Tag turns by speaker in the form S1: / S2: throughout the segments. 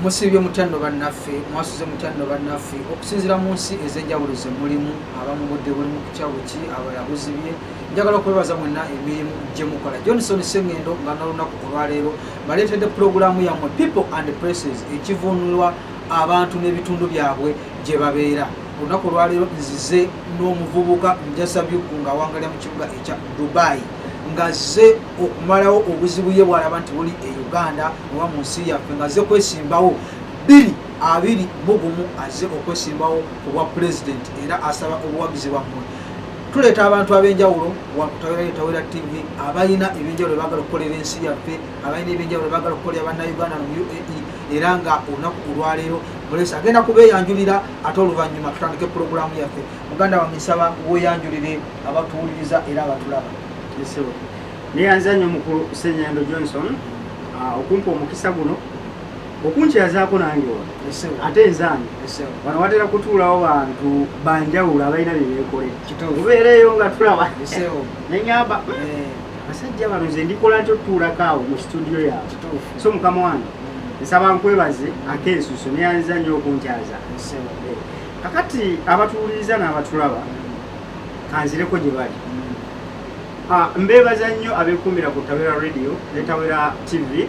S1: musiibye mutya nno bannaffe mwasuze mutya nno bannaffe okusinzira mu nsi ez'enjawulo ze mulimu abamu budde buli mu kukyawo ki abalala buzibye njagala okwebaza mwenna emirimu gye mukola johnson sengendo nga nalunaku olwaleero baleetedde pulogulaamu yammwe people and places ekivunulwa abantu n'ebitundu byabwe gye babeera olunaku olwaleero nzize n'omuvubuka njasabyuku ng'awangalira mu kibuga ekya dubai ngazze okumalawo obuzibu ye bwalaba nti buli e uganda oba mu nsi yaffe ngazze kwesimbawo biri abiri mugumu azze okwesimbawo ku bwa pulezidenti era asaba obuwagizi bwammwe tuleeta abantu ab'enjawulo wakutawera tv abalina ebyenjawulo bagala okukolera ensi yaffe abalina ebyenjawulo bagala okukolera bannauganda mu uae era nga olunaku olwaleero mulesi agenda kubeeyanjulira ate oluvannyuma tutandike pulogulaamu yaffe muganda wange nsaba weeyanjulire abatuwuliriza era abatulaba
S2: neyanza nnyo mukulu senyendo johnson ah, okumpa omukisa guno okunkyazako nange wano ate nzange wano watera kutuulawo bantu banjawulo abalina byebeekole obeereeyo nga tulaba nenyamba eh. basajja bano nze ndikola nti otutuulako awo mu situdiyo yawe so mukama wange mm. nsaba nkwebaze ate ensuso neyanza nnyo okunkyaza eh. kakati abatuwuliriza n'abatulaba mm. kanzireko gye bali mm. ah, mbeebaza nnyo abekuumira ku tawera radio ne tawera tv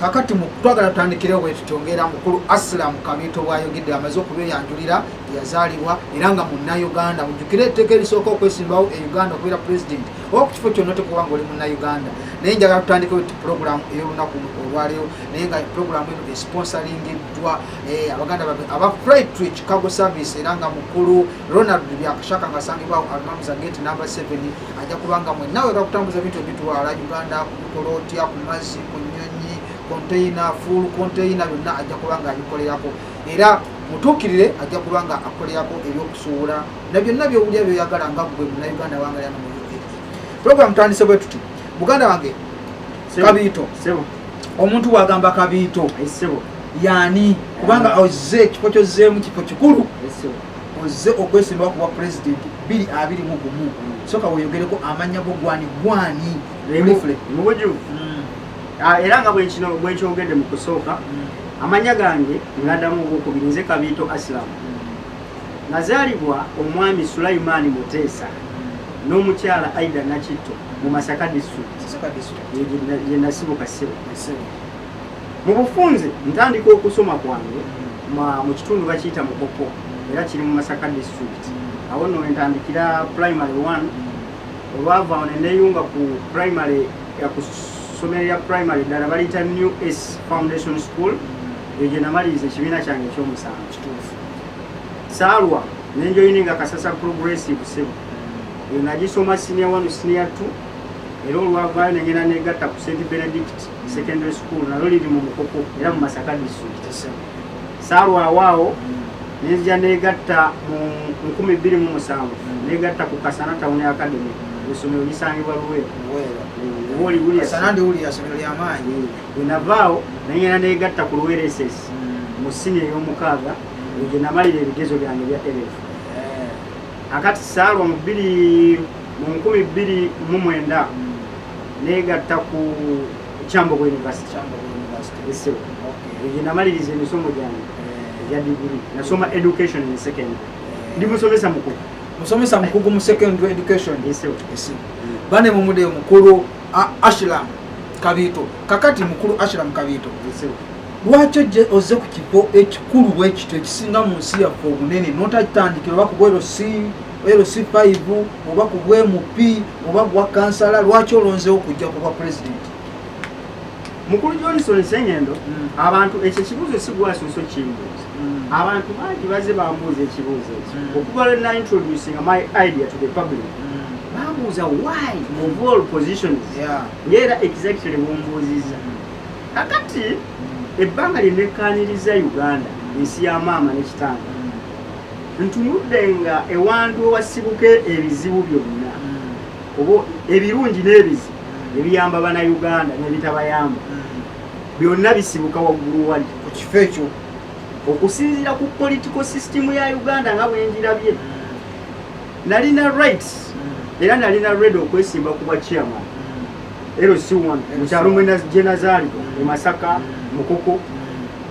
S1: kakati twagala tutandikirewo bwetutongera mukulu asilam kabiito bwayogedde amaze okubeyanjulira yazaalibwa era nga munnauganda mujjukire etteeka erisooka okwesimbawo e uganda okubeera president oba ku kifo kyonna tekuba nga oli munnauganda naye njagala tutandikewo ti pulogulaamu ey'olunaku olwaleero naye nga pulogulaamu eno esponsoringiddwa eh, abaganda babe aba flight to chicago service era nga mukulu ronald byakashaka nga asangibwawo almamuza gate number 7 ajja kubanga mwenna wega kutambuza bintu ebitwala uganda kola otya ku mazzi ku nyonyi konteyina fuulu konteyina byonna ajja kuba nga abikolerako era mutuukirire ajja kuba nga akolerako ebyokusuubula na byonna byowulya byoyagala nga gwe munauganda wangalyana mu uae puroguramu tandise bwe tuti muganda wange kabiito omuntu wagamba kabiito yani kubanga ozze ekifo kyozzeemu kifo kikulu ozze okwesimbawo kubwa pulezidenti biri abiri mu gumu soka weyogereko amanya go gwani gwani Remufle. Mubuju. Mm.
S2: Ah, era nga bwekino bwekyogedde mu kusooka mm. amanya gange ngadamu ogwokubiri nze kabiito asilamu mm. nazaalibwa omwami sulaimaani muteesa mm. n'omukyala aida nakitto mu masaka disitulikitiyenasibuka sebo mu bufunze ntandika okusoma kwange mu kitundu bakiyita mukopo era kiri mu masaka disitulikiti awo no entandikira primary one olwava awo neneyunga ku primary ku ssomero lya primary ddala baliyita new s foundation school eyo gye namaliriza ekibiina kyange ekyomusanvu kituufu saalwa nenjoyini nga kasasa progressive sebo eyo nagisoma senior one senior two era olwavaayo nengenda negatta ku st benedict secondary school nalo liri mu mukuku era mu masaka district saalwawo awo nenzija negatta mu nkumi bbiri mu musanvu negatta ku kasana town academy esomero lisangibwa luweeruwoliwuliasomero
S1: wenavaawo
S2: nayena negatta ku luwereses hmm. mu sini ey'omukaaga egyo namalira ebigezo byange bya elf eh. akati saalwa mu bbiri mu nkumi bbiri mu mwenda hmm. neegatta ku kyambogo university esewo egyo namaliriza emisomo gyange eh. egya digiri nasoma education in secondary eh. ndi musomesa mukugu musomesa mukugu mu secondary
S1: education esewo mm. bane mumude mukulu ashilam kabiito kakati mukulu ashiram kabiito lwaki ojje ozze ku kifo ekikulu bwekityo ekisinga mu nsi yaffe obunene notakitandikira oba kuba ero si LC5 oba ku bwmp oba bwa kansala lwaki olonzewo kujja kuba pulezidenti
S2: mukulu johnson sengendo mm. abantu ekyo ekibuuzo sigwasuusa okukimbuuza mm. abantu bangi baze bambuuza ekibuuzo ekyo mm. okuva lwe naintroducinga my idea to the public mm. bambuuza why of all positions yeah. ngaera exactly mumbuuziza mm. kakati mm. ebbanga lyenekkaniriza uganda ensi ya maama nekitanga ntunudde nga ewantu ewasibuka ebizibu byonna hmm. oba ebirungi n'ebizibu hmm. ebiyamba banauganda nebitabayamba byonna bisibuka waggulu wali ku kifo ekyo
S1: okusinziira
S2: ku political system ya uganda nga bwenjirabye nalina rights era nalina red okwesimba ku bwa chairman lc1 mukyalo mwena gyenazaali emasaka mukoko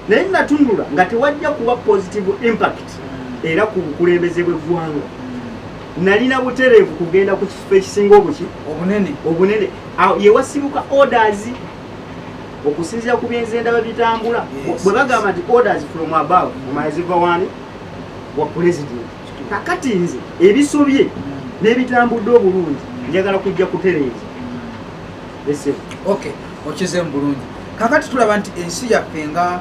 S2: naye natunula nga tewajja kuba positive impact era ku bukulembeze bw'eggwanga nalina butereevu kugenda ku kifo ekisinga obuki obunene obunene yewasibuka orders okusinzira ku byenze ndaba bitambula bwe bagamba nti orders from above omaziva wani wa president kakati nze ebisobye mm. n'ebitambudde obulungi njagala kujja kutereeza
S1: okay okize mu bulungi kakati tulaba nti ensi yaffe nga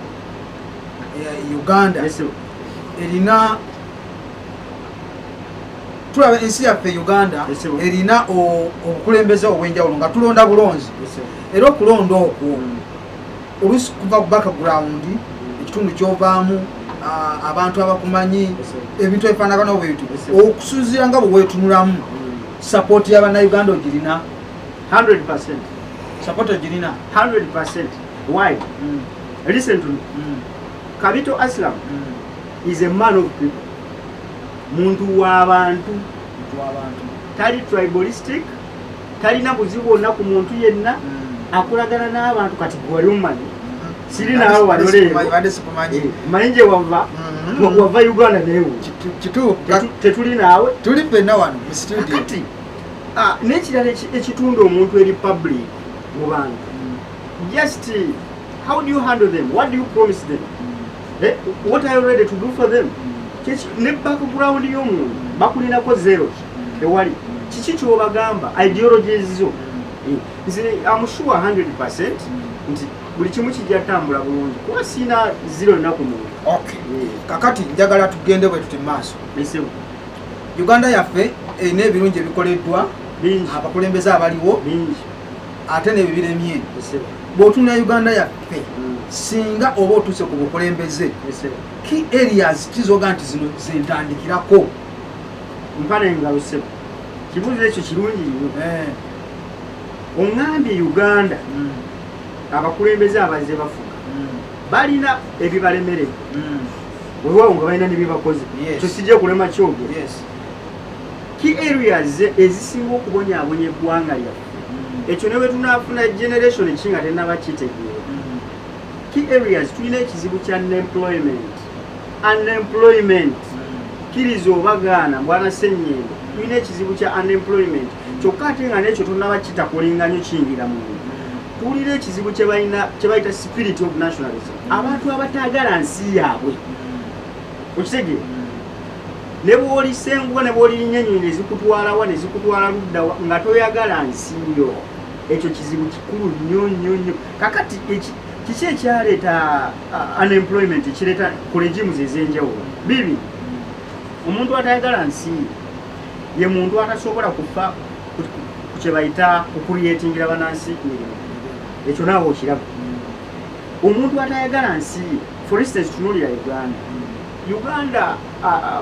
S1: eh, uganda erina tulaba ensi yaffe uganda erina obukulembeze obwenjawulo nga tulonda bulonzi era okulonda okwo mm. olusi kuva ku background mm. ekitundu kyovaamu abantu abakumanyi ebintu ebifanagana obwebintu okusinzira nga bwewetunulamu mm. sapoti yabanauganda ogirina 100%
S2: support
S1: ojirina
S2: 100% why mm. listen to me mm. kabito aslam mm. is a man of people muntu wabantu muntu wabantu tali tribalistic talina buzibu bwonna ku muntu yenna mm. akolagana n'abantu kati gwali omumanyi mm-hmm. siri naawe baloleemanyi eh, nje wava mm-hmm. wava uganda newe tetuli naawe tuli fenna wano mu
S1: studio
S2: Ah, n'ekirala ekitunda omuntu eri public mu bantu just how do you handle them what do you promise them eh, what are you ready to do for them ne background y'omuntu bakulinako zero ewali kiki kyobagamba ideologies zo eh, nze amusure 100 percent nti buli kimu kijja tambula bulungi kuba siina zero enaku muntu eh.
S1: kakati njagala tugende bwe tuti maaso Uganda yaffe erina ebirungi ebikoleddwa abakulembeze abaliwo ate nebyo biremye bwotunda uganda yaffe mm. singa oba otuuse ku bukulembeze ki areas kizoga nti zino zentandikirako
S2: mpana engalo sebo kibuuzo ekyo kirungi nyo eh. oŋambye uganda mm. abakulembeze abazze bafuga mm. balina ebibalemerera wewawo nga balina nebyebakoze kyo sijja kulema kyogo ki areas ezisinga okubonyabonya eggwanga lyaffe mm. ekyo newetunafuna generation ki nga tenaba kitegeera mm. ki areas tulina ekizibu kya unemployment unemployment mm. kiriza obagaana mbwana senyendo tulina ekizibu kya unemployment kyokka ate nga nekyo tonaba kitakolinganyo kiyingira muntu tuwulira ekizibu kyebalina kyebayita spirit of nationalism mm. abantu abataagala nsi yaabwe mm. okitege mm. ne bwolisenguka ne bwolirinnya enyonyi nezikutwalawa nezikutwala luddawa nga toyagala nsi yo ekyo kizibu kikulu nnyo nnyo nnyo kakati kiki ekyaleeta unemployment ekireeta ku regimes ez'enjawulo bibi omuntu atayagala nsi ye muntu atasobola kufa kyebayita okuliyetingira banansi mirimu ekyo naawe okiraba omuntu atayagala nsi for instance tunulira uganda uganda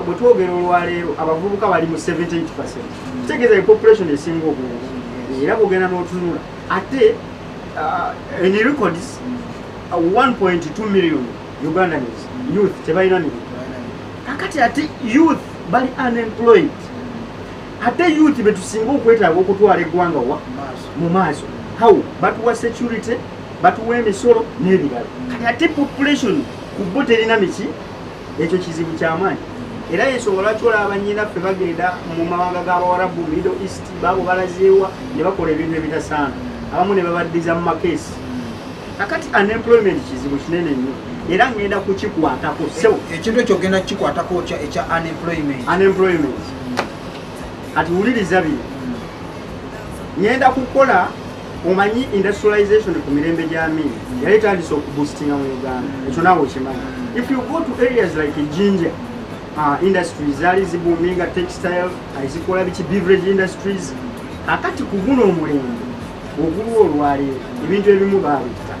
S2: bwetwogera olwaleero abavubuka bali mu 78 kitegeeza e population esinga obungi era bwogenda n'otunula ate in records 1.2 million Ugandans youth tebalina mirimu kakati ate youth bali unemployed ate youth betusinga okwetaaga okutwala eggwanga wa mu maaso how batuwa security batuwa emisolo n'ebirala kati ate population ku bo terina miki ekyo kizibu kyamaanyi era yensonga lwaki olaba nyinaffe bagenda mu mawanga g'abawarabu middle east baabo balazeewa ne bakola ebintu ebitasaana abamu ne babaddiza mu makeesi kakati unemployment kizibu kinene nnyo era ngenda kukikwatako sewo e, ekintu ekyo
S1: ogenda kukikwatako kya ekya unemployment unemployment
S2: kati wuliriza bino ngenda kukola omanyi industrialization ku mirembe gya mini yali etandise okubusitinga mu uganda ekyo naawe okimanyi if you go to areas like jinja uh, industries zaali zibuminga textile azikola biki beverage industries akati ku guno omulembe Ogulwo olwaleero ebintu ebimu baabitta.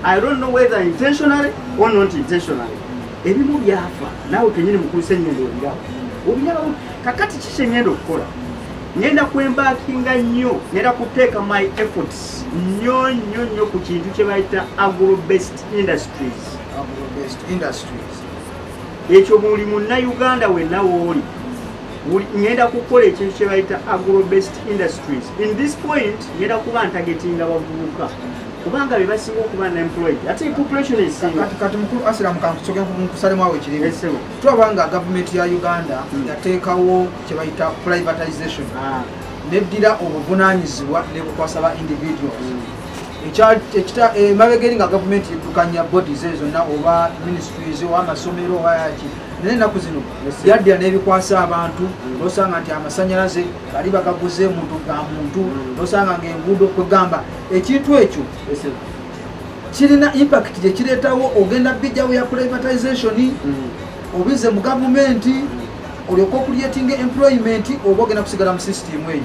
S2: I don't know whether intentionally or not intentionally. Ebimu byafa naawe kenyini mukulisa ennyendo olirawo obirawo kakati kiki engenda okukola ngenda kwembakinga nnyo ngenda kuteeka my efforts nnyo nnyo nnyo ku kintu kye bayita agrobest industries ekyo buli munnauganda wenna wooli ngenda kukola ekintu kyebayita agrobest industries in this point ngenda kuba ntagetinga bavubuka kubanga bebasinga okuba nemployed ate population esingaati mukulu asira
S1: mukankusoke nkusalemu awo ekirimu tulaba nga gavumenti ya uganda hmm. yateekawo kyebayita privatization ah. neddira obuvunanyizibwa nebukwasa ba individuals hmm. emabegeri eh, nga gavumenti edukanya bodies ezo zonna oba ministries oba amasomero oba yaki naye ennaku zino yadda n'ebikwasa abantu nosanga nti amasanyalaze bali bagaguze muntu ga muntu mm. nosanga ngaenguudo kwegamba ekintu ekyo kirina impact gyekireetawo ogenda bijjawo ya privatization mm. obize mu gavumenti mm. olyoka okuliyetinga employment oba ogenda kusigala mu system eyo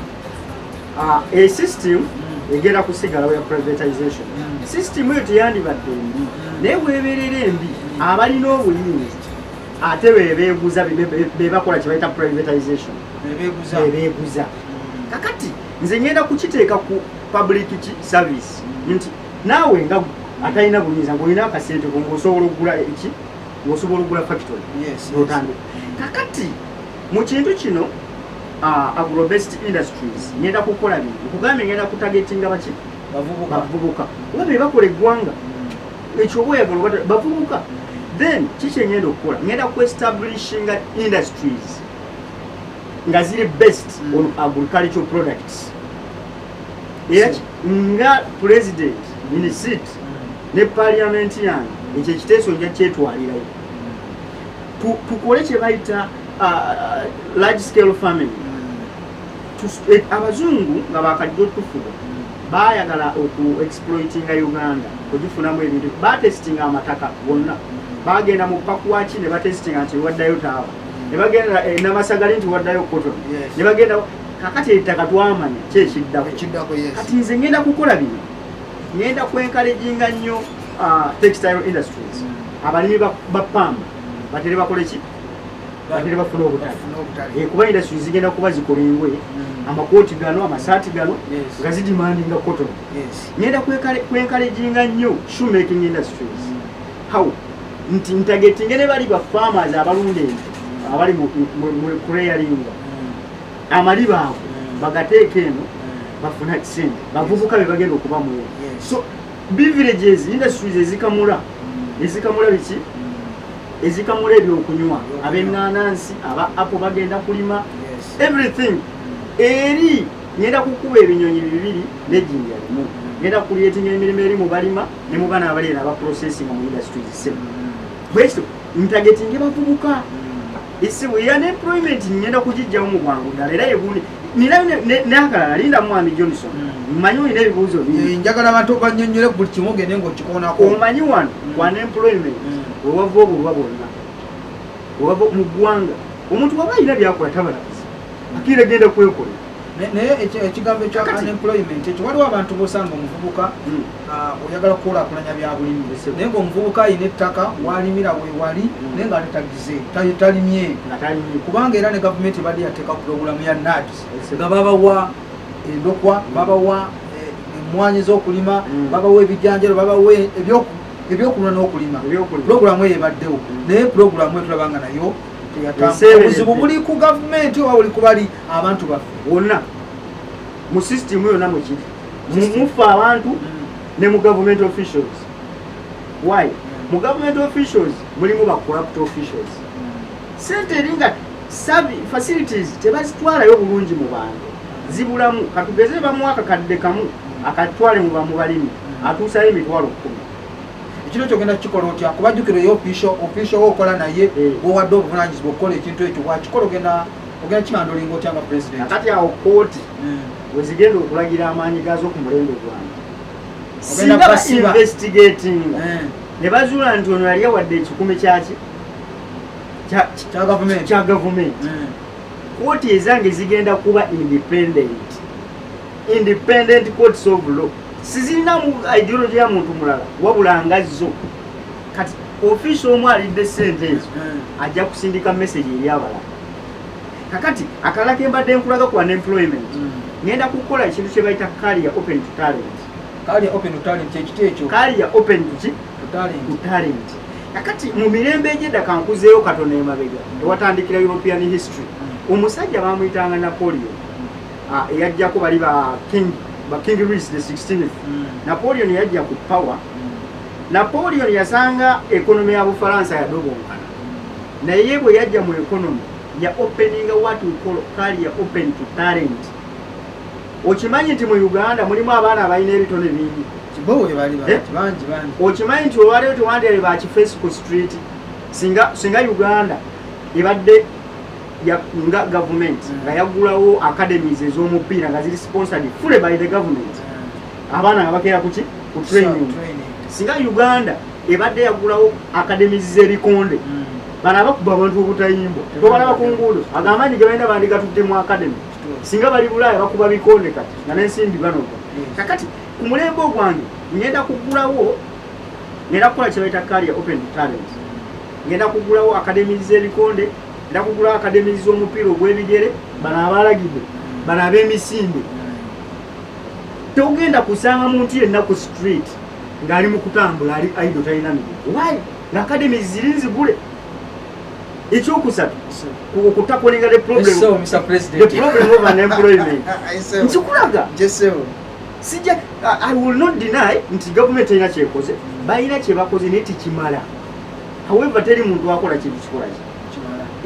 S1: ah,
S2: e system mm. egenda kusigalawo ya privatization mm. system eyo teyandibadde embi mm. naye weberera embi abalina obuyinza ate bebeguza bebakola kyebayita privatization bebeguza kakati nze ngenda kukiteeka ku public service nti naawe nga atalina buyinza ngaolina akasente ngaosobola okugula eki ngaosobola okugula factory otandika kakati mu kintu kino uh, agrobest industries ngenda kukola bino okugambye ngenda kutagetinga baki bavubuka oba bebakola eggwanga ekyoba oyagala oba bavubuka then kiki engenda okukola ngenda kuestablishinga industries nga ziri based mm. on agricultural products era nga president minisit mm. ne parliament yange ekyo ekiteeso nja kyetwalirayo tukole kye bayita uh, large scale farming hmm. eh, abazungu nga bakajja otufuga bayagala oku exploitinga uganda kugifunamu ebintu batestinga amataka gonna bagenda mu pakuwaki ne batestinga nti waddayo taawa ne bagenda eh, namasagali nti waddayo koto ne bagenda kakati ettaka twamanya kyekiddako kati nze ngenda kukola bino ngenda kwenkalejinga nnyo ah, textile industries abalimi ba pamba batere bakole ki batere bafuna obutale eh, kuba industry zigenda kuba zikola engwe mm. amakooti gano amasaati gano nga zidimandinga cotton ngenda kwenkaleginga nnyo shoe making industries mm. how nti ntagetinge ne bali ba farmers abalunda ente abali mu kureyalinga mm. amaliba ago bagateeka eno bafuna kisente bavubuka bebagenda okuba mu so Beverages industries ezikamula ezikamula biki ezikamula ebyokunywa ab'eŋŋanansi aba apo bagenda kulima everything eri ngenda kukuba ebinyonyi bibiri nejinja limu ngenda kukulietinga emirimu eri mu balima ne mu bana abaleera aba processing mu industries semu bwekito ntagetinge bavubuka esimu ya ne employment ngenda kugijjawo mu bwangu ddala era yegundi nina nakalala linda mwami johnson hmm. mmanyi olina ebibuuzo eh, njagala abantu obanyonyole
S1: buli kimu ogende ngaokikoonako omanyi wano hmm.
S2: wana employment hmm. wewava obulwa bwonna wewava mu ggwanga omuntu waba alina byakola tabalabiza akira genda kwekola naye
S1: ekigambo ekya unemployment ekyo waliwo abantu bosanga omuvubuka hmm. ah, oyagala kukulakulanya byabulimi naye nga omuvubuka alina ettaka walimira wewali hmm. naye nga ate tagize talimye kubanga era ne gavumenti ebadde yateeka pulogulamu ya nads nga babawa endokwa hmm. babawa eh, emwanyi zokulima babawa ebijanjalo babawa ebyokulima nokulima pulogulamu eyo ebaddewo naye pulogulamu etulaba nga nayo obuzibu buli ku gavumenti oba buli kubali abantu baffe wonna
S2: mu system yonna mwekiri muffe abantu mm. ne mu government officials why mm. mu government officials mulimu ba corrupt officials mm. sente eringa facilities tebazitwalayo bulungi mu bantu zibulamu katugeze bamwaka kadde kamu akatwale mu bamubalimi atuusayo emitwalo kumi kino
S1: kyogenda kukikola otya kubajjukira eyo official official wokola naye eh. wowadde obuvunanyizibwa okukola ekintu ekyo bwakikola ogenda ogenda kibanda olinga otya nga president kati awo kooti
S2: hmm. wezigenda okulagira amaanyi gaazo ku mulembe gwange singa bainvestigatinga hmm. ne bazuula nti ono yali awadde ekikumi kyaki kya gavumenti hmm. kooti ezange zigenda kuba independent independent courts of law sizirinamu ideology ya muntu mulala wabula nga zo kati ofiisi omu alidde sente ezo ajja kusindika message eri abalala kakati akalala kembadde nkulaga kuwa employment mm. ngenda kukola ekintu kyebayita kaliya open to talent kaliya open to
S1: talent kyekiti ekyo kaliya open
S2: to talent kakati mu mirembe egyedda kankuzeeyo katono emabega ewatandikira european history mm. omusajja bamuyitanga napoleon mm. ah, eyajjako bali ba king ba king ris the 16th napoleon yajja ku power Napoleon yasanga ekonomi ya Bufalansa yadobonkana, naye bwe yajja mu ekonomi ya openinga what we call career open to talent. Okimanyi nti mu Uganda mulimu abaana abalina ebitone bingi, eh?
S1: okimanyi nti
S2: olwaleero tewandyabe baki Facebook street singa, singa Uganda ebadde nga gavumenti nga yagulawo academies ez'omupiira nga ziri sponsored fully by the government abaana nga bakeera kuki ku training singa uganda ebadde yagulawo akademis z'ebikonde hmm. bano abakuba abantu obutayimbwa tobalaba ku nguudo ago amaanyi ge balina bandigatudde mu akademi singa bali bulaaya bakuba bikonde kati nga n'ensimbi banoga hmm. kakati ku mulembe ogwange ngenda kugulawo ngenda kukola kyebaita karia open talent ngenda kugulawo akademis z'ebikonde ngenda kugulawo akademis z'omupiira ogw'ebigere bano abalagidde bano ab'emisinde togenda kusanga muntu yenna ku street ng'ali mu kutambula ali aido talina mirimu why the academy ziri nzigule ekyokusatu okutakolinga the problem the problem of an employment nkikulaga sija i will not deny nti gavumenti erina kyekoze balina kyebakoze naye tikimala however teri muntu akola kintu kikolaki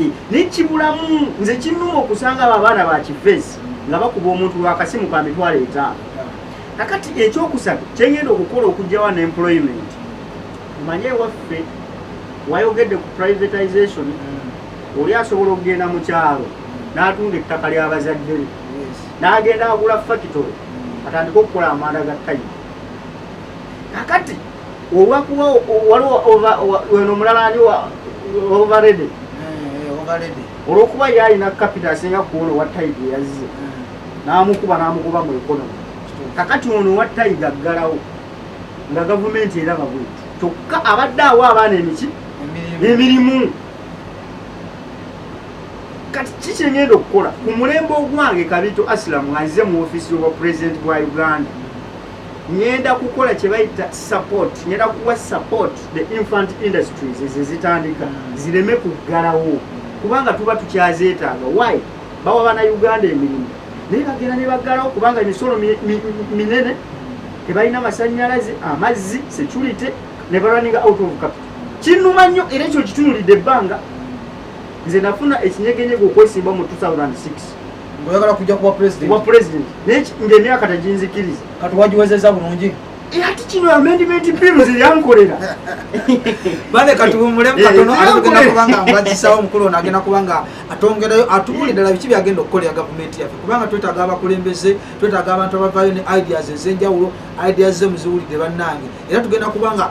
S2: Eh, nekibulamu nze kinuma okusanga abo abaana bakifesi nga bakuba omuntu lwakasimu ka mitwalo etaano kakati ekyokusatu kyengenda okukola okugjawa ne employment manye ewaffe wayogedde ku privatization mm. oli asobola okugenda mu kyalo n'atunda ettaka ly'abazadde be n'agenda agula fakitole mm. atandike okukola amanda ga tayimu kakati olwakuba waliwo weno omulala ani overrede eh, olwokuba ye alina kapita asinga kuona owa taiga eyazze eh. n'amukuba n'amugoba mu ekonomi kakati ono owa taiga aggalawo nga gavumenti eraba bweti kyokka abadde awo abaana emiki emirimu kati ki kyengenda okukola ku mulembe ogwange kabito asilamu aze mu ofisi obwa pulezidenti bwa uganda ngenda kukola kyebayita support ngenda kuwa support the infant industries ezezitandika mm. zireme kuggalawo kubanga tuba tukyazeetaaga why bawa bana uganda emirimu naye bagenda nebaggalawo kubanga emisolo minene tebalina masanyalaze amazzi security nebalwaninga out of capital kinuma nnyo era ekyo kitunulidde ebbanga nze nafuna ekinyegenyega okwesimba mu 2006 Ngoyagala
S1: kujja kuwa president. Wa president. Nech nge miaka
S2: tajinzikiriza. Kati wajiwezeza
S1: bulungi. E eh, ati kino
S2: amendment bill zilyankolera.
S1: Bale kati bumule eh, katono eh, ali kugenda kubanga mbajisawo mukulu na agenda kubanga atongerayo atubuli dala bichi byagenda okukolera government yafe. Kubanga twetaga abakulembeze, twetaga abantu abavayo ne ideas ezenjawulo, ideas ze muziwulide bannange. Era tugenda kubanga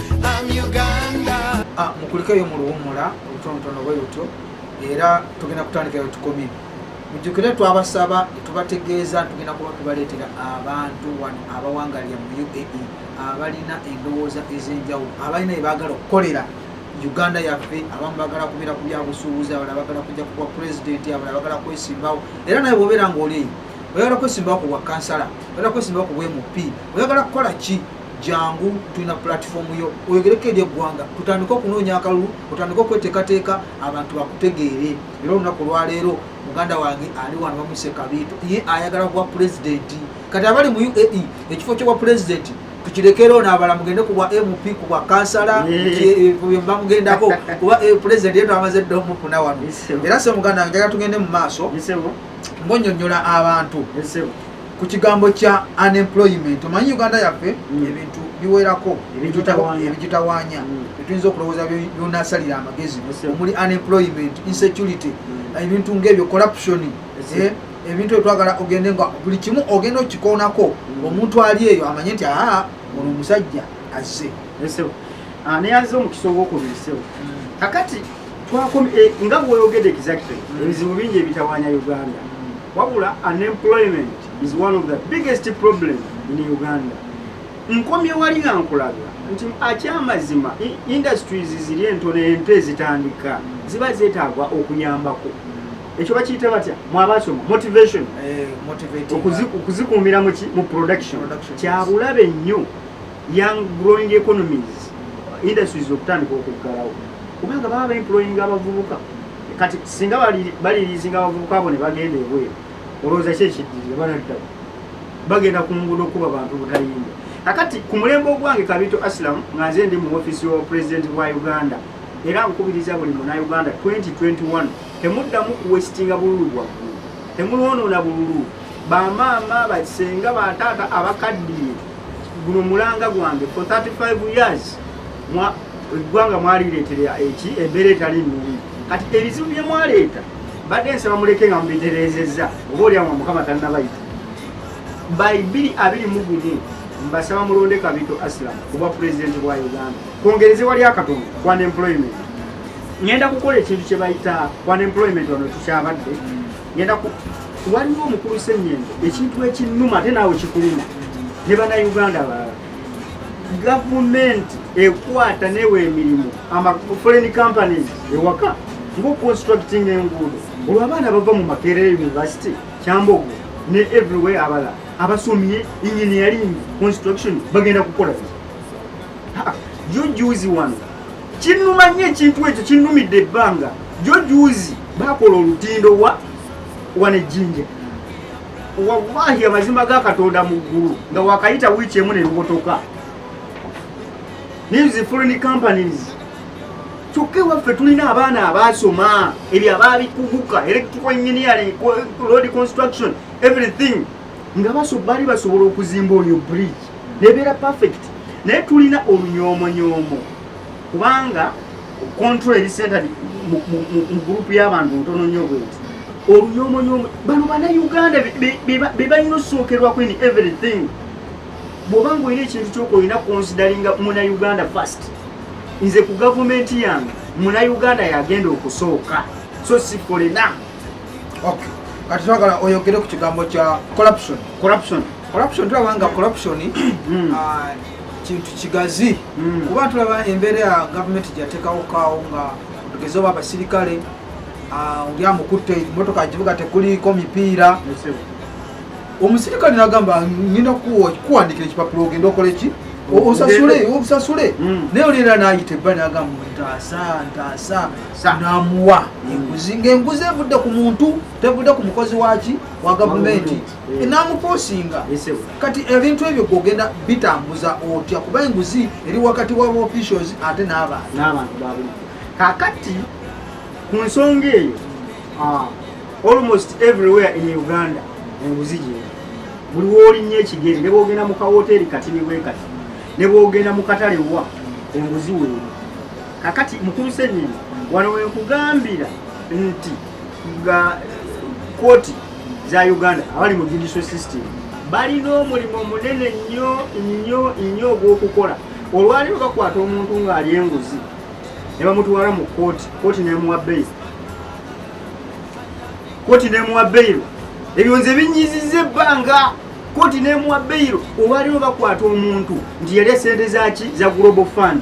S1: Ah, mukulikeyo mu luwumula olutonotono bwe lutyo era tugenda kutandikayo tukomye mujjukire twabasaba tubategeeza tugenda kuba tubaleetera abantu wano abawangalira mu uae abalina endowooza ez'enjawulo abalina ebaagala okukolera uganda yaffe abamu bagala kubeera ku byabusuubuzi abala bagala kujja kubwa pulezidenti abala bagala kwesimbawo era naye bwobeera ngaoli oyagala kwesimbawo ku bwa kansala oyagala kwesimbawo ku bwa mp oyagala kukola ki jangu tulina pulatifomu yo oyogereko eri eggwanga tutandike okunoonya akalulu otandike okweteekateeka abantu bakutegeere era olunaku olwaleero muganda wange ali wano bamuse kabiito ye ayagala kuba pulezidenti kati abali mu uae ekifo kyobwa pulezidenti tukirekerewo nabala mugende kubwa mp kubwa kansala bamugendako kuba eh, pulezidenti yetu amaze dda omukuna wano era se muganda wange njagala tugende mu maaso ngonyonyola abantu ku kigambo kya unemployment omanyi uganda yaffe mm. ebintu biwerako ebigitawanya mm. etuyinza okulowooza byonasalira amagezi omuli unemployment mm. insecurity ebintu ngaebyo corruption eh, ebintu etwagala ogende nga buli kimu ogenda okikoonako omuntu ali eyo amanye nti aa ono omusajja azze ah,
S2: neyaze omukisa ogwokubisewo kakati eh, nga bwoyogede exactly ebizibu bingi ebitawanya uganda wabula unemployment is one of the biggest problem in uganda nkomye wali nga nkulaga nti akyamazima industries ziri entono ento ezitandika ziba zeetaagwa okuyambako ekyo bakiyita batya mwabasoma motivation eh, okuzikuumira muki mu production kyabulabe nnyo young growing economies industries okutandika okuggalawo kubanga baba baemployinga abavubuka kati singa baliriizinga abavubuka abo ne bagenda ebweru olowooza ki ekiddirira banaddala bagenda ku nguudo okuba bantu butayinda akati ku mulembe ogwange kabito asilam nga nze ndi mu ofisi wa pulezidenti bwa uganda era nkubiriza buli muna uganda 2021 temuddamu kuwesitinga bululu bwaggulu temulwonoona bululu bamaama basenga bataata abakaddiye guno mulanga gwange for 35 years eggwanga mwalireetera eki embeera etali nungi kati ebizibu bye mwaleeta badde nsaba muleke nga mubitereezezza oba olyawa mukama tannabayita by 2 abiri mu gumu mbasaba mulonde kabito asilam kuba pulezidenti bwa uganda kwongereze wali akatono kwa unemployment ngenda kukola ekintu kye bayita kwa unemployment wano tukyabadde ngenda ku waliwo omukulu senyendo ekintu ekinuma ate naawe kikuluma ne banauganda balala gavumenti ekwata newa emirimu foreign companies ewaka ngaoconstructing enguudo olwo abaana bava mu makerere university kyambogo ne everywhere abala abasomye engineering construction bagenda kukola yo juzi wano kinnuma nnyo ekintu ekyo kinnumidde ebbanga jo juuzi bakola olutindo wa wana ejjinja wallahi amazima ga katonda mu ggulu nga wakayita wiiki emu nelubotoka news foreign companies kyokka ewaffe tulina abaana abaasoma ebyo abaabikuguka electrical engineering road construction everything nga baso bali basobola okuzimba oyo bridge nebeera perfect naye tulina olunyomonyoomo kubanga control eri center mu group y'abantu ntono nnyo bweti olunyomonyoomo bano banauganda bebalina osookerwako in everything bwoba nga olina ekintu kyoka olina consideringa muna uganda first nze ku gavumenti yange muna uganda yagenda okusooka so sifolena okay
S1: kati twagala oyogere ku kigambo kya corruption corruption corruption tulaba nga corruption hmm. ah, kintu kigazi hmm. kuba tulaba embeera ya gavumenti gyateekawo kaawo nga tugeze oba abasirikale ah, oli amukutte motoka kibuga tekuliiko mipiira omusirikale nagamba ngenda kuwandikira ekipapula ogenda okola eki osasule obusasule hmm. naye olera nayita ebba nagamba ntaasa ntaasa namuwa enguzi ngaenguzi evudde ku muntu tevudde ku mukozi waki wa gavumenti eh. namuposinga kati ebintu ebyo gogenda bitambuza otya kuba enguzi eri wakati wa officials ate n'abantu
S2: kakati ku nsonga eyo ah, almost everywhere in uganda enguzi gye buli wolinnya ekigeri ne bwogenda mu kawoteeri katini bwe kati ne bwogenda mu katale wa enguzi weeri kakati mukulu senyini wano wenkugambira nti nga koti za uganda abali mu judicial system balina omulimu munene nnyo nnyo nnyo ogwokukola olwaliro bakwata omuntu ng'ali enguzi ne bamutwala mu kooti kooti nemuwa beyiro kooti nemuwa beyiro ebyo nze binyiziza ebbanga kooti nemuwa beyiro olwaliro bakwata omuntu nti yali esente zaki za global fund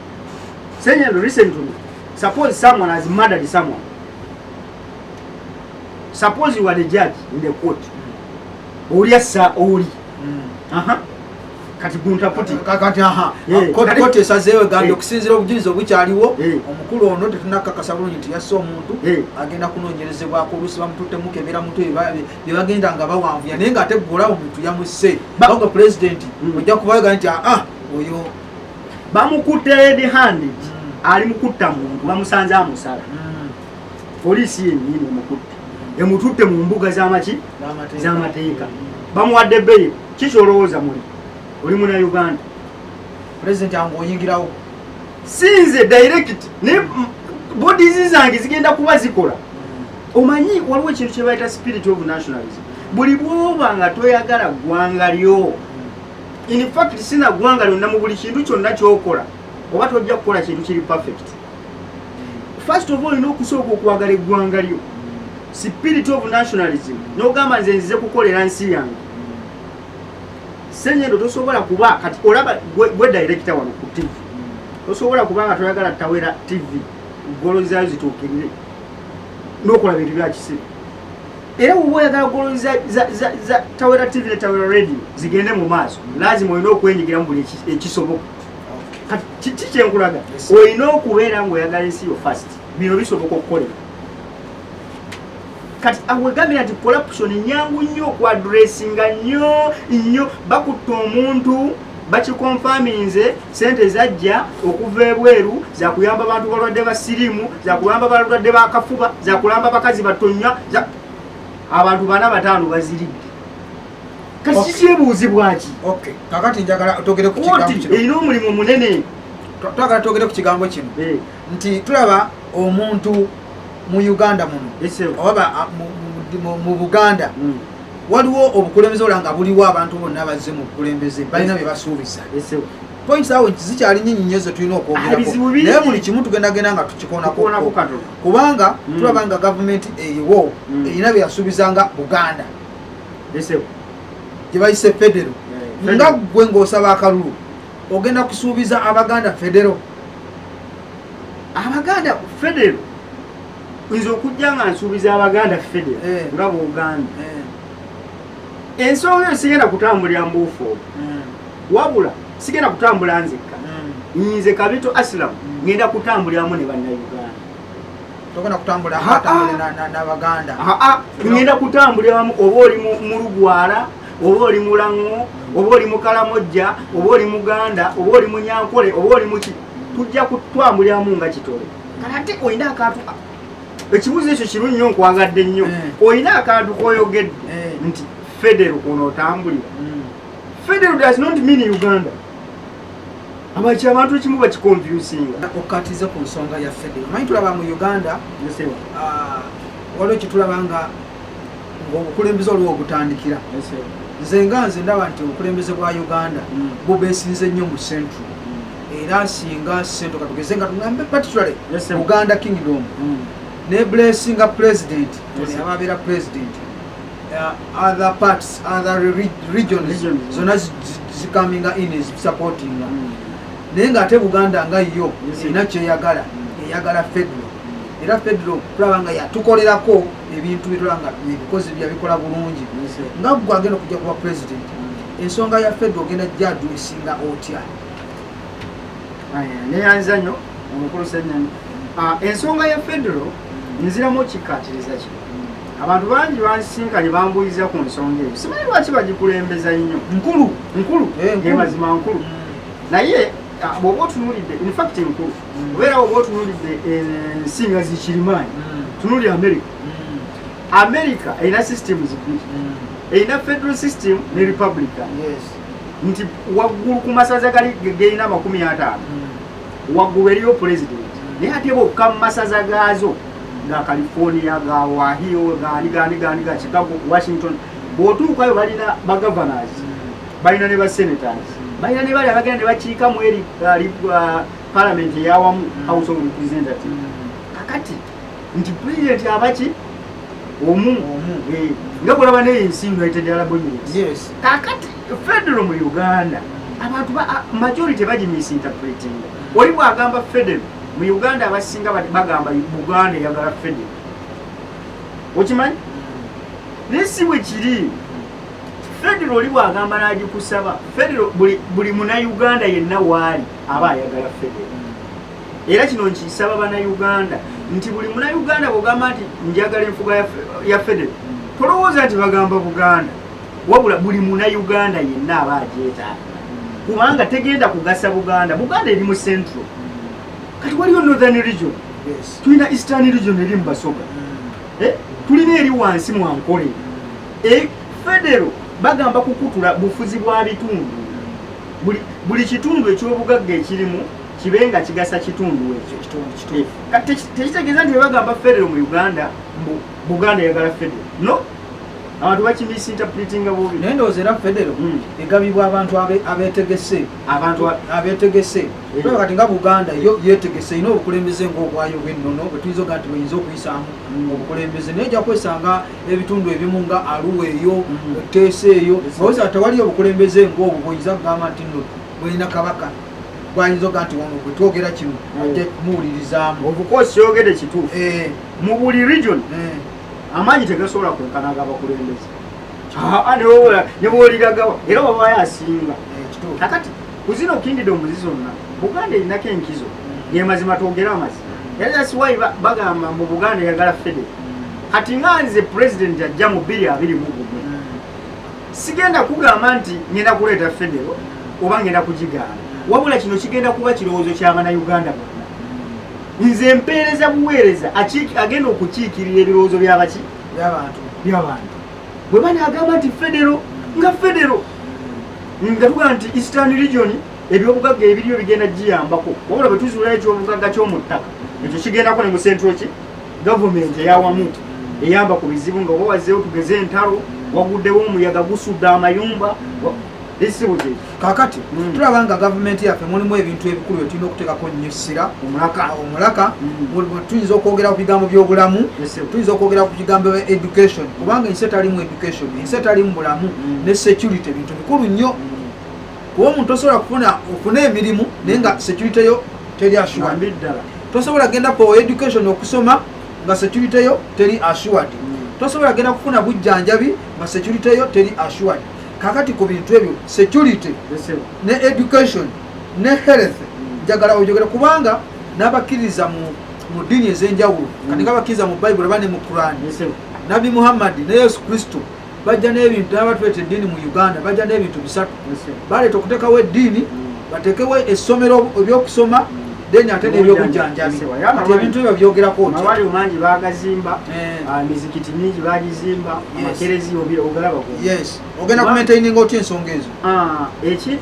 S2: Saying listen to me. Suppose someone has murdered someone. Suppose you are the judge in the court. Oli asa oli. Mm. Aha. Kati gunta puti. Kati aha. Yeah.
S1: Court kati, court esazewe gando yeah. kusinzira obujulizi obukyaliwo. Yeah. Omukulu ono tetunaka kasabulu nti yaso omuntu yeah. agenda kunonyerezebwa ko lusi bamutute mukebera mutwe babe. Yagenda nga bawanvu. Yanenga ategula omuntu yamuse. Ba, Bago president. Mm. Oja kubaga nti ah oyo bamukutte
S2: red handed ali mukutta muntu bamusanze amusala hmm. poliisi yenyini emukutte emututte mu mbuga zamaki zamateeka bamuwadde bbeyi kiki olowooza muli oli muna uganda pulezidenti
S1: ange oyingirawo sinze
S2: direct naye bodies zange zigenda kuba zikola hmm. omanyi waliwo ekintu kyebayita spirit of nationalism buli bwoba nga toyagala ggwanga lyo in fact sina gwanga lyonna mu buli kintu kyonna kyokola oba tojja kukola kintu kiri perfect first of all olina okusooka okwagala eggwanga lyo spirit of nationalism nogamba nze nzize kukolera nsi yange senyendo tosobola kuba kati olaba gwe director wano ku tv tosobola kuba nga toyagala tawera tv golo zayo zituukirire nokola bintu byakisiru era woba oyagala goloni za tawera tv ne tawera radio zigende mu maaso lazima olina okwenyigira mu buli ekisoboka kiki kyenkulaga olina okubeera ngaoyagala ensi yo fast bino bisoboka okukolera kati awegambira nti corruption nyangu nnyo okuadressinga nnyo nnyo bakutta omuntu bakikonfaminze sente zajja okuva ebweru zakuyamba bantu balwadde ba sirimu zakuyamba balwadde bakafuba zakulamba bakazi batonya abantu bana bataano baziridde kakikyebuuzibwaki kakati njagala
S1: togere ku kigambo kino erina omulimu munene
S2: twagala twogere
S1: ku kigambo kino eh. nti tulaba omuntu mu uganda muno oba mu buganda mm. waliwo obukulembeze ola nga buliwo abantu bonna bazze mu bukulembeze balina bye basuubiza points awo zikyali nyinyi nnyo ze tulina okwogerako naye buli kimu tugendagenda nga tukikonako kubanga mm. tulaba nga gavumenti eriwo mm. erina bye yasuubizanga buganda gye bayise federo nga ggwe ng'osaba akalulu ogenda kusuubiza abaganda federo abaganda federo
S2: nze okujja nga nsuubiza abaganda fede eh. nga bwogambye eh. ensonga eyo sigenda kutambulira mbuufu obu hmm. wabula sigenda kutambula nzekka hmm. nze kabito asilamu hmm. ngenda kutambuliramu ne bannayuganda togenda
S1: kutambula nabaganda ngenda
S2: kutambuliramu oba oli mu lugwala oba oli mulaŋo oba oli mukalamojja oba oli muganda oba oli munyankole oba oli muki tujja kutwambuliramu nga kitole ate olina akantu ekibuuzo ekyo kiru nnyo nkwagadde nnyo eh. olina akantu koyogedde eh. nti federo ono otambulira hmm. federo does not mean uganda abaki abantu ekimu bakikonfusinga okukatiza ku
S1: nsonga ya federo manyi tulaba mu uganda ah, waliwo kyetulaba nga ng'obukulembeze oliwo ogutandikira nze nga nze ndaba nti obukulembeze bwa uganda mm. bubesinze nnyo mu central mm. era singa sento katugeze nga tugambe particularly uganda kingdom mm. ne blessinga president ababeera president uh, other parts other regions zona zikaminga in supportinga naye ngaate buganda nga yo erina kyeyagala eyagala federal era federal kulaba nga yatukolerako ebintu bitula nga ebikozi byabikola bulungi nga gwe agenda okujja kuba president ensonga ya fed ogenda jadu esinga otya
S2: neyanza nyo omukulu senyani ah, ensonga ya federo nziramu okikkatiriza kino abantu bangi bansisinkanye bambuyiza ku nsonga eyo simanyi lwaki bagikulembeza nnyo nkulu nkulu eh, mazima nkulu mm. naye Ah, bwoba otunulidde infact enkulu mm. obeera bwoba otunulidde ensi eh, nga zikirimaanyi mm. tunuli america mm. america erina system zibiri erina federal system ne republican nti waggulu ku masaza gali gerina amakumi ataano waggulu eriyo president naye ate bokka mu masaza gaazo ga california ga wahio ganiganigani ga chicago washington bwotuukayo balina bagovernors balina ne ba senators balina ne bali abagenda ne bakiika mu eri uh, palamenti eyawamu mm. house of representative kakati nti pulezidenti abaki omu eh, nga kulaba naye ensi united arab emirates kakati federo mu uganda abantu majority bagimisinterpretinga oli bwagamba federo mu uganda abasinga bagamba buganda eyagala federo okimanyi mm. naye si bwe kiri federo oli bwagamba nagikusaba federo buli munauganda yenna waali aba ayagala federo era kino nkisaba banauganda nti buli munauganda bwogamba nti njagala enfuga ya federo tolowooza nti bagamba buganda wabula buli munauganda yenna aba agyetaaga kubanga tegenda kugasa buganda buganda eri mu central kati waliyo northern region tulina eastern region eri mu basoga mm. eh, tulina eri wansi mwankole E, federo bagamba kukutula bufuzi bwa bitundu buli, buli kitundu ekyobugagga ekirimu kibe nga kigasa kitundu ekyo eh, tekitegeeza nti bebagamba federo mu uganda mbu buganda eyagala federo no abantu bakimisinterpretinga bubi naye ndowooza era federo
S1: hmm. egabibwa abantu abetegese abantu abetegese eh. kati nga buganda yo yetegese erina obukulembeze ngaobwayo bwennono bwetuyinza oga nti buyinza okuyisaamu hmm. obukulembeze naye ojja kwesanga ebitundu ebimu nga aluwa eyo teesa eyo owoza tewaliyo obukulembeze ngaobwo bwoyinza kugamba nti no bweyina kabaka bwayinza oga nti wano gwe twogera kino mm. ajja kumuwulirizaamu obukosi yogede
S2: kituufu eh. mu buli region eh. amaanyi tegasobola kwenkanaga abakulembeze ah, ah, nebwoliragawa era wabayo asinga eh, kakati Ku zino kingidomuzi zonna Buganda erinako enkizo gemazima twogere amazima era that's why bagamba mu Buganda yagala fede kati nga nze president ajja mu bbiri abiri mu gumu sigenda kugamba nti ngenda kuleeta federo oba ngenda kugigaana wabula kino kigenda kuba kirowoozo kyabana uganda bonna nze mpeereza buweereza agenda okukiikirira ebirowoozo byabaki byabantu bwe banaagamba nti federo nga federo nga tuga nti eastern region ebyobugagga ebiriyo bigenda giyambako wabula bwe tuzuulayo ekyobugagga ky'omu ttaka ekyo kigendako ne mu central ki gavumenti eyawamu eyamba ku bizibu nga oba wazeewo tugeze entalo waguddewo omuyaga gusudde amayumba esibuze
S1: kakati mm. tulaba nga gavumenti yaffe mulimu ebintu ebikulu bye tulina okuteekako nnyo essira omulaka omulaka mm. tuyinza okwogera ku bigambo by'obulamu tuyinza okwogera ku bigambo bya education kubanga ensi etalimu education ensi etalimu bulamu mm. ne security bintu bikulu nnyo kuba omuntu osobola kufuna ofuna emirimu naye nga security yo teri assured ddala tosobola genda ku education okusoma nga security yo teri assured tosobola genda kufuna bujjanjabi nga security yo teri assured kakati ku bintu ebyo security ne education ne health mm. njagala ojogere kubanga n'abakkiriza mu mu ddiini ez'enjawulo mm. kati nga bakkiriza mu bayibuli oba ne mu kurani nabbi muhammadi ne yesu kristo bajja n'ebintu naba tuleeta eddiini mu uganda bajja n'ebintu bisatu baleeta okuteekawo eddiini mm. bateekewo essomero ebyokusoma then ate nebyobujjanjabi kati ebintu ebyo byogerako mawaliwo mangi
S2: bagazimba eh. ah, mizikiti mingi bagizimba amakerezi ogalaba yes ogenda
S1: kumaintaininga otya ensonga ezo ah,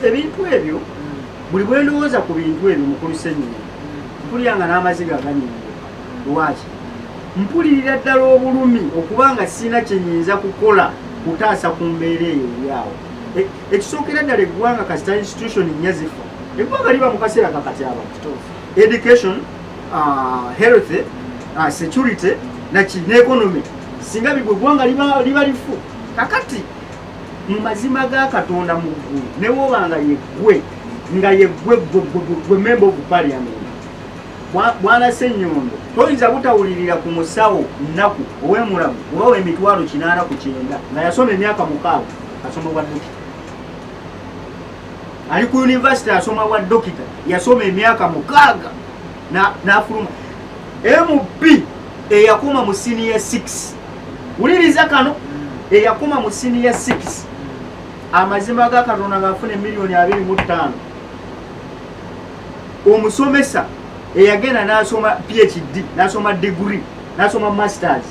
S2: ebintu ebyo hmm. buli bwendowooza ku bintu ebyo mukulu senyini hmm. mpulira nga n'amaziga aganyinga lwaki mpulirira ddala obulumi okuba nga sirina kyenyinza kukola kutaasa ku mbeera eyo eryawo eh, ekisookera ddala eggwanga kasita institution nyazifu eggwanga liba mu kaseera kakati aba education uh, health uh, security naki ne economy singa bigwe eggwanga liba lifu kakati mu mazima ga katonda mu ggulu newoba nga yeggwe nga yeggwe gwe memba ovu parliament bwana senyondo toyinza butawulirira ku musawo nnaku owemulamu oba wemitwalo kinaana ku kyenda nga yasoma emyaka mukaaga asoma bwa dokita ali ku yunivasite asoma bwa dokita yasoma emyaka mukaaga n'afuluma mb eyakoma mu siniya 6 wuliriza kano eyakoma mu siniya 6 amazima ga katonda ngaafuna emiliyoni 25 omusomesa eyagenda nasoma phd nasoma digiri nasoma masters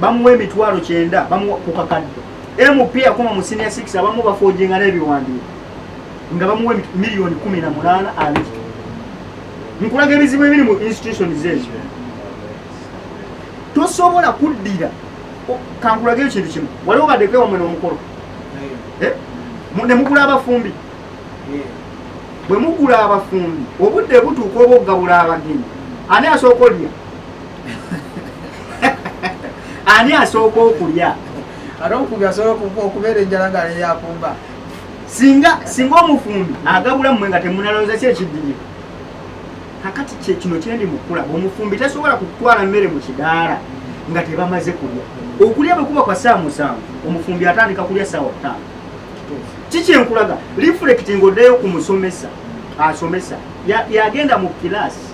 S2: bamuwa emitwalo kyenda bamuwa kukakadde MP yakoma mu senior 6 abamu bafoojinga n'ebiwandiiko nga bamuwa miliyoni kumi na munaana abiri nkulaga ebizibu ebiri mu institutions ezo tosobola kuddira kankulaga eyo kintu kimu waliwo badeko ewamwe n'omukolo eh? ne mugula abafumbi bwe mugula abafumbi obudde butuuka oba okugabula abagenyi ani asooka olya ani asooka okulya ate omufubi
S1: asobola okubeera enjala nga leyakumba singa
S2: singa omufumbi agabula mmwe nga temunalowooza ki ekiddiye kakati kyekino kyendi mukula omufumbi tasobola kutwala mmere mu kidaala nga tebamaze kulya okulya bwe kuba kwa saa musanvu omufumbi atandika kulya saawa ttaano kikyenkulaga lifulekiti ng'oddeyo ku musomesa asomesa yagenda mu kilaasi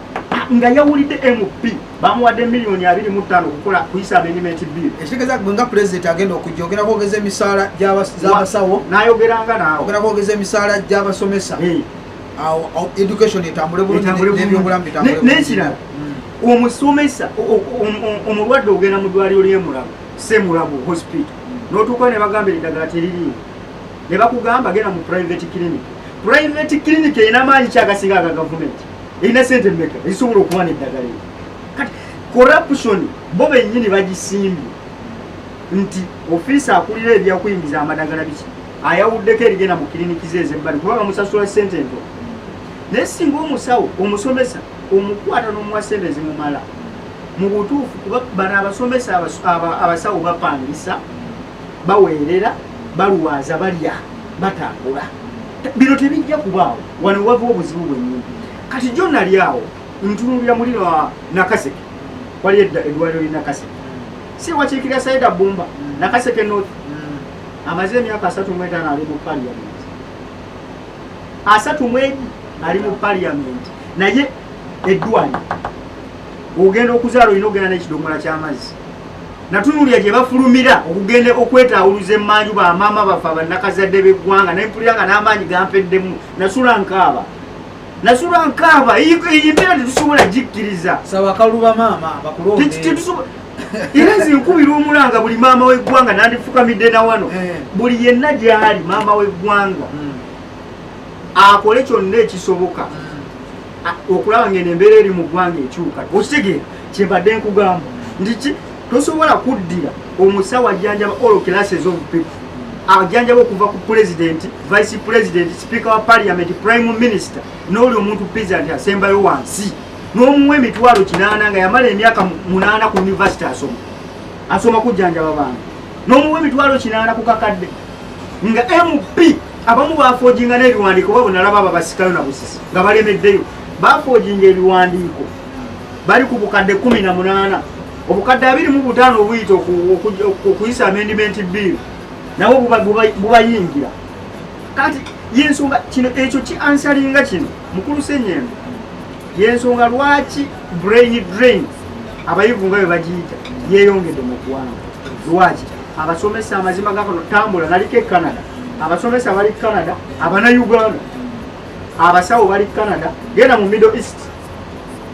S2: nga yawulidde mp bamuwadde miliyoni abiri mu ttaano okukola kuyisa amendimenti bill ekitegeeza gwe nga pulezidenti
S1: agenda okujja ogenda kwogeza emisaala gyabasawo nayogeranga naawe
S2: ogenda kwogeza emisaala
S1: gy'abasomesa awo education etambule bulunginebyobulamu bitambulnekirala
S2: hmm. omusomesa omulwadde ogenda mu ddwaliro lyemulago semulago hospital hmm. notuukawo ne bagamba eddagala teririimu ne bakugamba genda mu private clinic private clinic erina amaanyi kyagasinga aga gavumenti erina sente meka ezisobola okuba neddagala eyo kati corruption bo bennyini bagisimbye nti ofiisi akulira ebyakuyingiza amadagala biki ayawuddeko erigenda mu kiriniki ze ezebbali kuba bamusasula sente ento naye singa omusawo omusomesa omukwata n'omuwa sente ezimumala mu butuufu kuba bano abasomesa abasawo bapangisa baweerera balwaza balya batambula bino tebijja kubaawo wano wava obuzibu bwenyini kati jo nali awo ntunulira muli nakaseke wali edda edwaliro li nakaseke si wakiikirira saida bumba nakaseke north amaze emyaka asatu mwetaano ali mu parliament asatu mwegi ali mu parliament naye eddwaliro ogenda okuzaala olina okugenda n'ekidomola ky'amazzi natunulira gye bafulumira okugenda okwetaawuluza emmanju bamaama baffe abannakazadde b'eggwanga naye mpulira nga n'amaanyi gampeddemu nasula nkaaba nasula nkaaba eyi mbeera tetusobola gikkiriza saba akaluba maama
S1: bakulonde
S2: era nze nkubira omulanga buli maama w'eggwanga nandifukamidde na wano eh. buli yenna gyali maama w'eggwanga hmm. akole kyonna ekisoboka hmm. okulaba ng'eno embeera eri mu ggwanga ekyuka okitegeera kyembadde nkugamba ndiki tosobola kuddira omusawo ajjanjaba all classes of people ajjanjaba okuva ku pulezidenti vice president sipiika wa parliament prime minister n'oli omuntu piza nti asembayo wansi n'omuwa emitwalo kinaana nga yamala emyaka munaana ku univesity asoma asoma kujjanjaba bantu n'omuwa emitwalo kinaana ku kakadde nga mp abamu bafojinga n'ebiwandiiko oba bwenalaba abo basikayo na busisi nga balemeddeyo bafojinga ebiwandiiko bali ku bukadde kumi na munaana obukadde abiri mu butaano obuyita okuyisa amendimenti biiru nabo bubayingira kati yensonga kino ekyo kiansalinga kino mukulu senyembe yensonga lwaki brain drain abayivu nga bwe bagiyita yeyongedde mu ggwanga lwaki abasomesa amazima gakano tambula naliko e canada abasomesa bali canada abana uganda abasawo bali canada genda mu middle east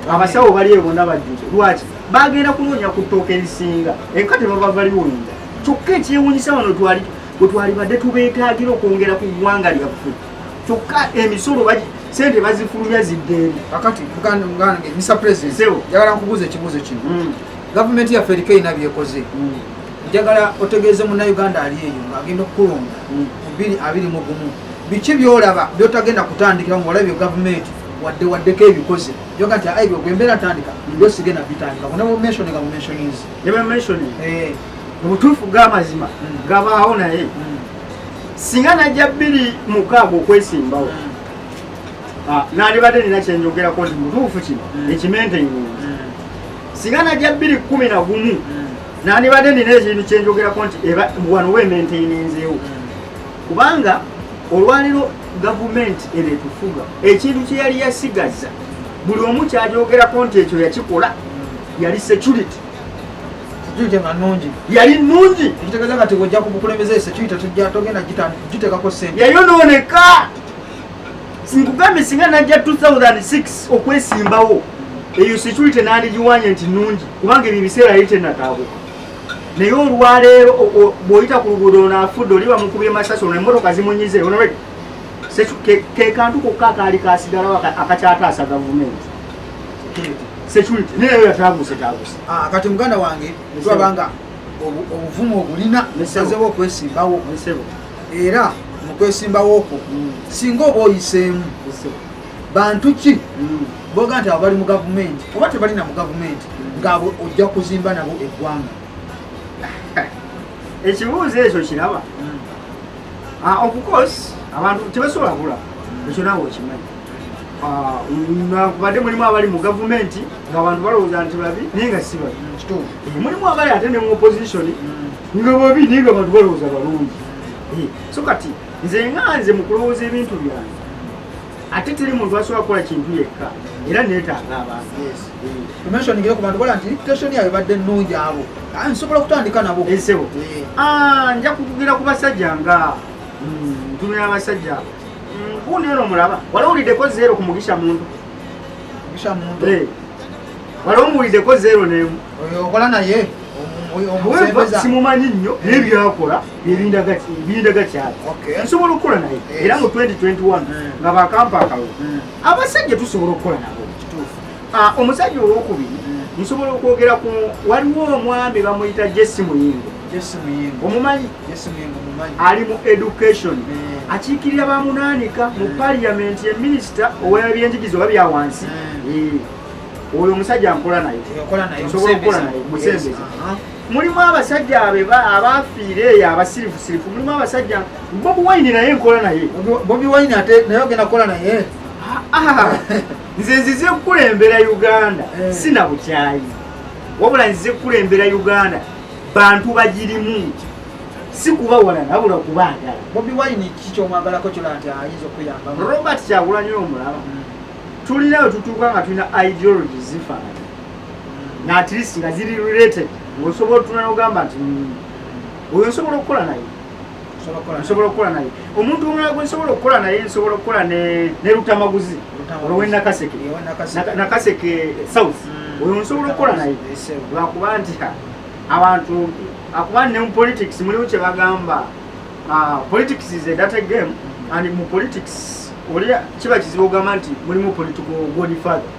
S2: abasawo bali eyo bonna bajjuze lwaki bagenda kunoonya ku ttooka erisinga enka tebaba baliwoyinza kyokka ekyewunyisa wano twali bwe twalibadde tubeetaagira okwongera ku ggwanga lyaffe kyokka emisolo sente bazifulumya ziddeeri kakati buganda
S1: muganda misa president yagala nkubuuza ekibuuzo kino mm. gavumenti yaffe eriko erina byekoze mm. njagala otegeeze munnayuganda ali eyo ng'agenda okukulonda mm. bubiri abiri mu gumu biki byolaba byotagenda kutandikira mu olabye gavumenti wadde waddeko ebikoze yoga nti aibyo gwembeera ntandika ndio sigenda bitandika kuna mumensioni nga mumensionis nebamumensioni
S2: eh. mu butuufu g'amazima mm. gabaawo naye mm. singa najja bbiri mukaaga okwesimbawo ah, nalibadde nina kyenjogerako nti mutuufu kino ekimentengunzi singa najja bbiri kumi na gumu nandibadde nina ekintu kyenjogerako nti wano wementaininzeewo kubanga olwaliro gavumenti eno etufuga ekintu kyeyali yasigaza buli omu kyajogerako nti ekyo yakikola yali security security
S1: nga nungi yali nungi
S2: ekitegeeza nga tiwojja ku
S1: bukulembeze security tujja togenda giteekako sente yayonooneka
S2: sinkugambye singa najja 2006 okwesimbawo eyo security nandigiwanye nti nungi kubanga ebyo ebiseera yali tenataabuka naye olwaleero bwoyita ku luguudo onafudde oli bamukubye masasi ono emotoka zimunyize onred kekantu kokka akaali kasigalawo akakyataasa gavumenti security naye eyo yataguse taguse ah, kati muganda
S1: wange twabanga obuvumu obulina nesazewo okwesimbawo era mu kwesimbawo okwo mm. singa oba oyiseemu bantu ki mm. boga nti abo bali mu gavumenti oba tebalina mu gavumenti mm. ngaabo ojja kuzimba nabo eggwanga
S2: ekibuuzo ekyo kiraba ah, ofcourse abantu tebasobola kula ekyo naawe okimanyi ah, nakubadde mulimu abali mu gavumenti ngaabantu balowooza nti babi naye nga si babi eh, mulimu abali ate ne mu opposition nga babi naye nga bantu balowooza balungi eh, so kati nze nga nze mu kulowooza ebintu byange ate teri muntu asobola kukola kintu yekka era neetaaga abantumensioningire
S1: eh. ku bantu bola nti reputation yayo badde nnungi abo ah, nsobola okutandika nabo esebo eh,
S2: ah, nja kukugira ku basajja nga mm, ntumira abasajja abo mm, kuneero mulaba wala wulideko zeero ku mugisha muntu mugisha muntu wala omuwulideko zero nemu okola
S1: naye
S2: simumanyi nnyo naye byakola birindaga kyali nsobola okukola naye era mu 2021 hmm. nga bakampa akalulu hmm. abasajja tusobola okukola nabo ah, omusajja owokubiri hmm. nsobola okwogera ku waliwo omwami bamuyita jesi muyingo omumanyi ali mu education akiikirira bamunanika mu parliament ye minisita owebyenjigiza oba byawansi oyo omusajja nkola naye nsobola okukola naye musembeze uh-huh. mulimu abasajja abaafiire eyo abasirifusirifu mulimu abasajja bobi wine naye nkola naye bobi wine ate
S1: naye ogenda kukola naye
S2: nze nzize kukulembera uganda eh. sina bukyayi wabula nzize kukulembera uganda bantu bagirimu si kuba wala nabula kubaagala bobi wine
S1: kikyomwagalako kyona nti ayinza okuyamba robert kyagulanyo
S2: omulaba hmm. tulina we tutuuka nga tulina ideology zifaanana nga at least nga ziri related ngaosobola otuna nogamba nti mm, oyo nsobola okukola naye nsobola okukola naye omuntu omulala gwe nsobola okukola naye nsobola okukola ne lutamaguzi olwenakaseke nakaseke south mm. oyo nsobola okukola naye lwakuba nti abantu akuba ne mu politics mulimu kyebagamba ah, politics is a data game and mu politics olera kiba kizibu ogamba nti mulimu political godfather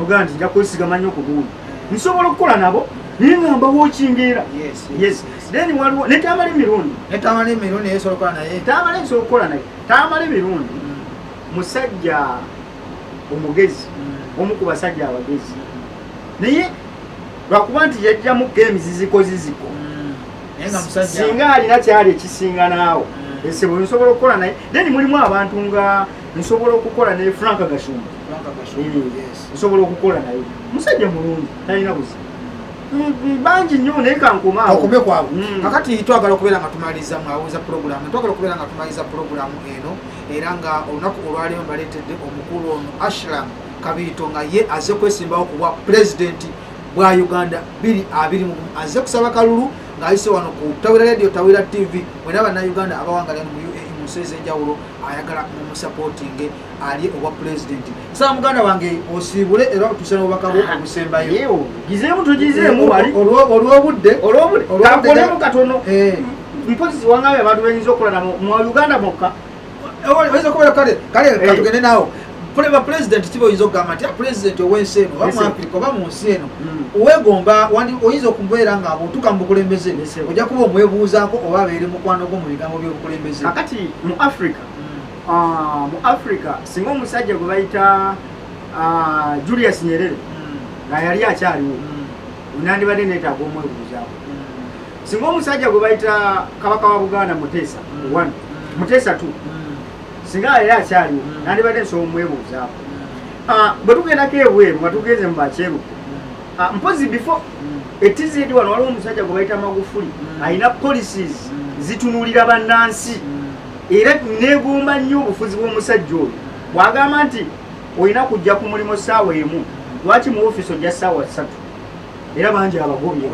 S2: ogamba nti nja kwesigama nnyo ku gundi nsobola okukola nabo naye nga mbawo okingeera then waliwo ne tamala emirundi tamala emirundi nsobola
S1: okukola naye tamala nsobola okukola naye
S2: tamala emirundi mm. musajja omugezi mm. omu ku basajja abagezi naye lwakuba nti yajjamu games ziziko ziziko mm. singa alina kyali ekisinga naawo mm. esebo nsobola okukola naye then mulimu abantu nga nsobola okukola naye frank gashumba mm. nsobola okukola naye musajja mulungi talina buzibu mm, bangi nnyo naye kankomaokube kwabwe kakati
S1: twagala okubeera nga tumaliriza mwawoza puroguramu twagala okubeera nga tumaliriza puroguramu eno era nga olunaku olwalimu baleetedde omukulu ono ashram kabiito nga ye aze kwesimbawo kubwa pulezidenti bwa uganda 221 azze kusaba kalulu ng'ayise wano ku tawira radio tawira tv mwena bannayuganda abawangalira mu uae mu nsi ez'enjawulo ayagala mumusapootinge ali obwa pulezidenti saa muganda wange osiibule era otuuse n'obubaka bwo obusembayo gizeemu
S2: tugizeemu wali olw'obudde
S1: olw'obudde kakolemu
S2: katono eh. mpozi ziwangayo abantu benyinza okulana mu uganda mokka oyinza
S1: kubeera kale kale eh. katugende naawo ba pulezidenti kiba oyinza okugamba nti ah, pulezidenti ow'ensi eno oba mu afirika oba mu nsi eno mm. wegomba oyinza okubeera nga otuuka mu bukulembeze ojja kuba omwebuuzaako oba abeere mukwano gwo mu bigambo by'obukulembeze kakati mu
S2: afirika mm. ah, mu afirika singa omusajja gwe bayita ah, julius nyerere mm. nga yali akyaliwo nandibadde neetaaga omwebuuzaako singa omusajja gwe bayita kabaka wa buganda muteesa mm. one mm. muteesa two mm. singa yali akyaliwo nandibadde nsobola omwebuuzaako ah, bwe tugendako ebweru nga tugenze mu bakyeruku ah, mpozi before etizidi wano waliwo omusajja gwe bayita magufuli alina policies zitunulira bannansi era negomba nnyo obufuzi bw'omusajja oyo bwagamba nti olina kujja ku mulimu ssaawa emu lwaki mu ofiisi ojja ssaawa ssatu era bangi abagobye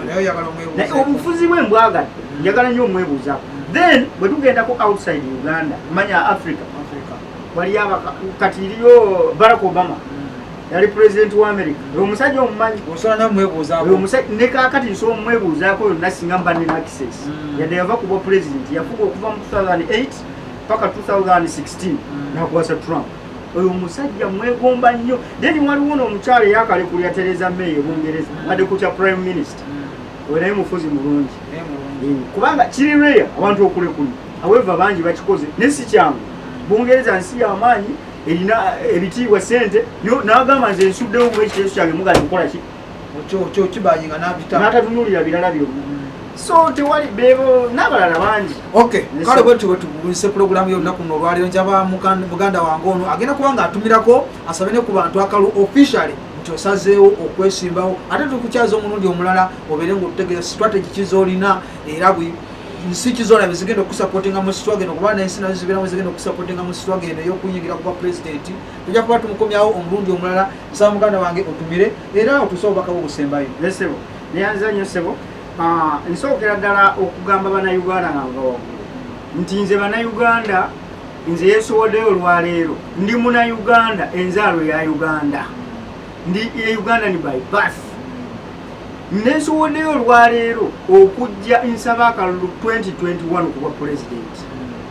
S2: naye
S1: obufuzi bwe
S2: mbwagadde njagala nnyo omwebuuzako then bwe tugendako outside uganda manya africa waliyo kati iriyo barack obama yali pulezidenti wa amerika oyo omusajja omumanyi
S1: ne kakati
S2: nsobola omwebuuzaako oyo nasinga mba nina access mm. yadde yava kubwa pulezidenti yafuga okuva mu 2008 paka 2016 nakwasa trump oyo omusajja mwegomba nnyo then waliwo noomukyalo eyakalekulya tereza may ebungereza ade kukya prime minister mm. oyo naye mufuzi mulungi mm. kubanga kiri rea abantu okulekulu aweva bangi bakikoze naye si kyangu bungereza nsi yamaanyi erina ebitiibwa sente nagamba nze nsuddewo mu ekiteeso kyange mugala kukola ki
S1: natatunulira birala
S2: byo so tewali bebo nabalala bangi okay kale bwe
S1: tuwe tubulise program yo lunaku no lwaliro njaba muganda wange ono agenda kuba nga atumirako asabe ne ku bantu akalu officially nti osazeewo okwesimbawo ate tukukyaza omulundi omulala obeere nga otutegeeza strategy kizolina era bwe nsi kizona bezigenda okusapotinga mu sitwageno kuba nensi nazo zibeeramu zigenda okusapotinga mu sitwageno eyokuyingira kuba pulezidenti tujja kuba tumukomyawo omulundi omulala nsaba muganda wange otumire era otuuse obubaka bwo busembayo esebo neyanziza
S2: nnyo sebo ah, nsookera ddala okugamba banauganda nga nva waggulu nti nze banauganda nze yesowodeyo olwaleero ndi muna uganda enzaalo ya uganda ndi e uganda ni by bath nesowodeyo olwaleero okujja nsaba akalulu 2021 okubwa pulezidenti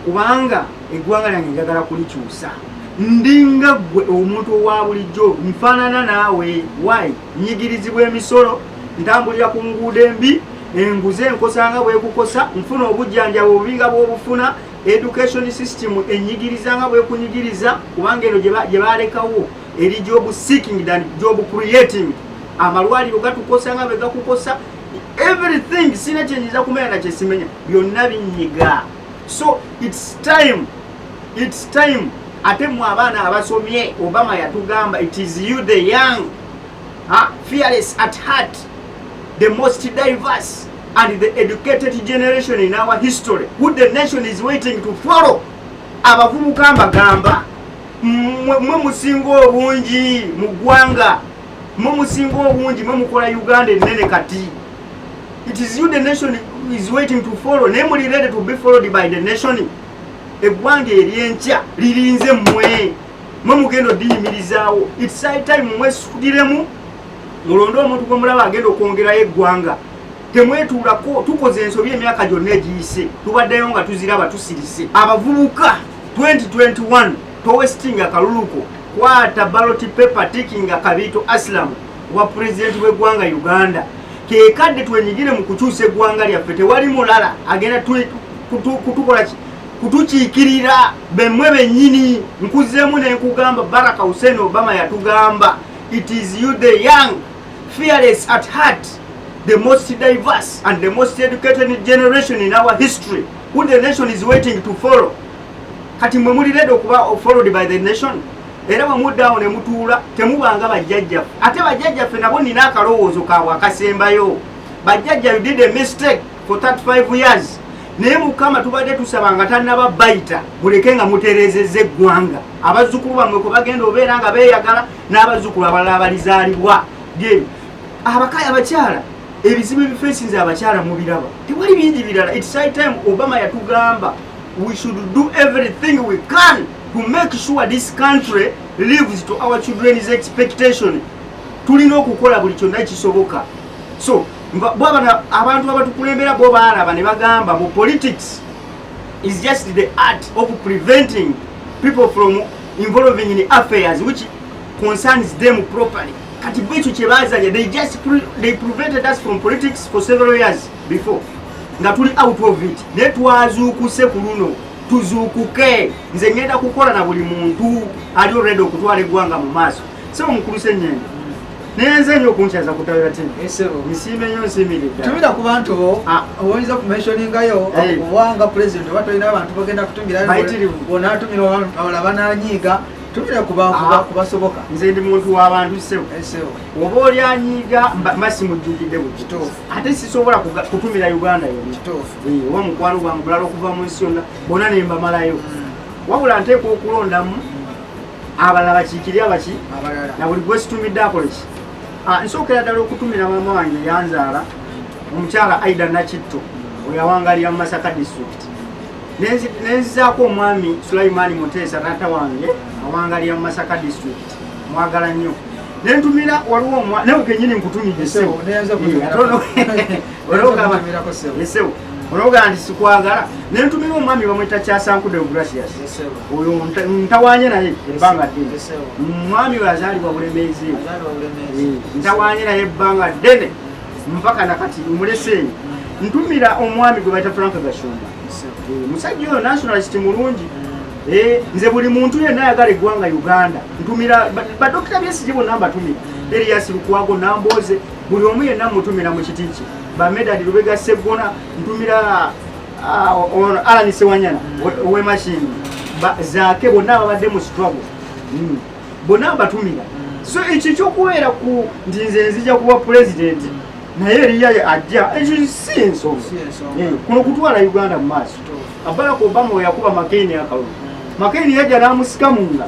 S2: kubanga eggwanga lyange njagala kulikyusa ndinga ggwe omuntu owa bulijjo nfaanana naawe y nyigirizibwa emisolo ntambulira ku nguudo embi enguze enkosanga bwekukosa nfuna obujjanjaba obubinga bwobufuna education system enyigiriza nga bwekunyigiriza kubanga eno gye balekawo eri job seeking than job creating amalwaliro gatukosa nga bwegakukosa everything sina kyenyiza kumera nakyesimenya byonna binyiga so it's time it's time ate mwe abaana abasomye obama yatugamba it is you the young ha? fearless at heart the most diverse and the educated generation in our history who the nation is waiting to follow abavubuka mbagamba mwe musinga obungi mu ggwanga mwe musinga obungi mwe mukola uganda ennene kati it is you the nation is waiting to follow naye muli ready to be followed by the nation eggwanga eryenkya lirinze mwe mwe mugenda odiyimirizaawo its high time mwesukiremu mulonde omuntu gwemulaba agenda okwongerayo eggwanga temwetuulako tukoze ensobi emyaka gyonna egiyise tubaddeyo nga tuziraba tusirise abavubuka 2021 towestinga kaluluko kwata baloti pepa tikinga kabiito asilamu wa pulezidenti w'eggwanga uganda kekadde twenyigire mu kukyusa eggwanga lyaffe tewali mulala agenda kutukola ki kutukiikirira bemwe bennyini nkuzeemu ne nkugamba baraka hussein obama yatugamba it is you the young fearless at heart the most diverse and the most educated generation in our history who the nation is waiting to follow kati mwe mulireda okuba followed by the nation era bwe muddaawo ne mutuula temubanga bajjajjaffe ate bajjajjaffe nabo nina akalowoozo kaabwe akasembayo bajjajja you did a mistake for 35 years naye mukama tubadde tusaba nga tannaba bayita muleke nga mutereezezza eggwanga abazzukulu bamwe kwe bagenda obeera nga beeyagala n'abazzukulu abalala abalizaalibwa ge abakaya abakyala ebizibu ebifeesinze abakyala mubiraba tewali bingi birala its high time obama yatugamba we should do everything we can to make sure this country lives to our children's expectation tulina okukola buli kyonna kisoboka so bwabana abantu abatukulembera bo baalaba ne bagamba mu politics is just the art of preventing people from involving in affairs which concerns them properly kati bo ekyo kyebazanya they just pre they prevented us from politics for several years before nga tuli out of it naye twazuukuse ku luno tuzuukuke nze ngenda kukola na buli muntu ali olredi okutwala eggwanga mu maaso sebo mukulu senyendo naye nze nyo okunkyaza kutawira ti nsiime nyo nsiimiridda tumira ku bantu bo
S1: ah. oyinza okumensioningayo obwanga pulezidenti oba tolina abantu bagenda kutumira bonatumira abala bananyiiga tumira kubasoboka ah. nze ndi muntu
S2: wabantu sebo oba oli anyiiga mba simujjukidde bukituufu ate sisobola kutumira uganda yo kituufu eh, oba mukwano gwange bulala okuva mu nsi yonna bona ne mbamalayo mm. wabula nteekwa okulondamu abalala bakiikiri abaki na buli gwesitumidde akoleki ah, nsookera ddala okutumira maama wange yanzaala omukyala aida nakitto oyo awangalira mu masaka district nenzizaako omwami sulaimaani muteesa taata wange awangalira mu masaka district mwagala nnyo nentumira waliwo omwa nawe kenyini nkutumidde sebo olwogaa nti sikwagala nentumira omwami bamwita kyasankude gracias oyo ntawanye naye ebbanga ddene omwami oyo azaalibwa bulemeezi eh, ntawanye naye ebbanga ddene mpaka nakati muleseeyo ntumira omwami gwe baita frank gashumba eh, musajja oyo nationalist mulungi eh, nze buli muntu yenna ayagala eggwanga uganda ntumira badokita byesije bonna mbatumira erias lukwago namboze buli omu yenna mutumira mu kiti kye bamedadi lubega seggona ntumira ah, ono alani sewanyana owemashini zaake bonna ababadde mu struggle hmm. bonna mbatumira so ekyo ekyokubeera ku nti nze nzija kuba pulezidenti naye eriya ajja ekyo si ensonga eh, kuno kutwala uganda mu maaso Barack Obama we yakuba McCain akalulu McCain yajja n'amusika munda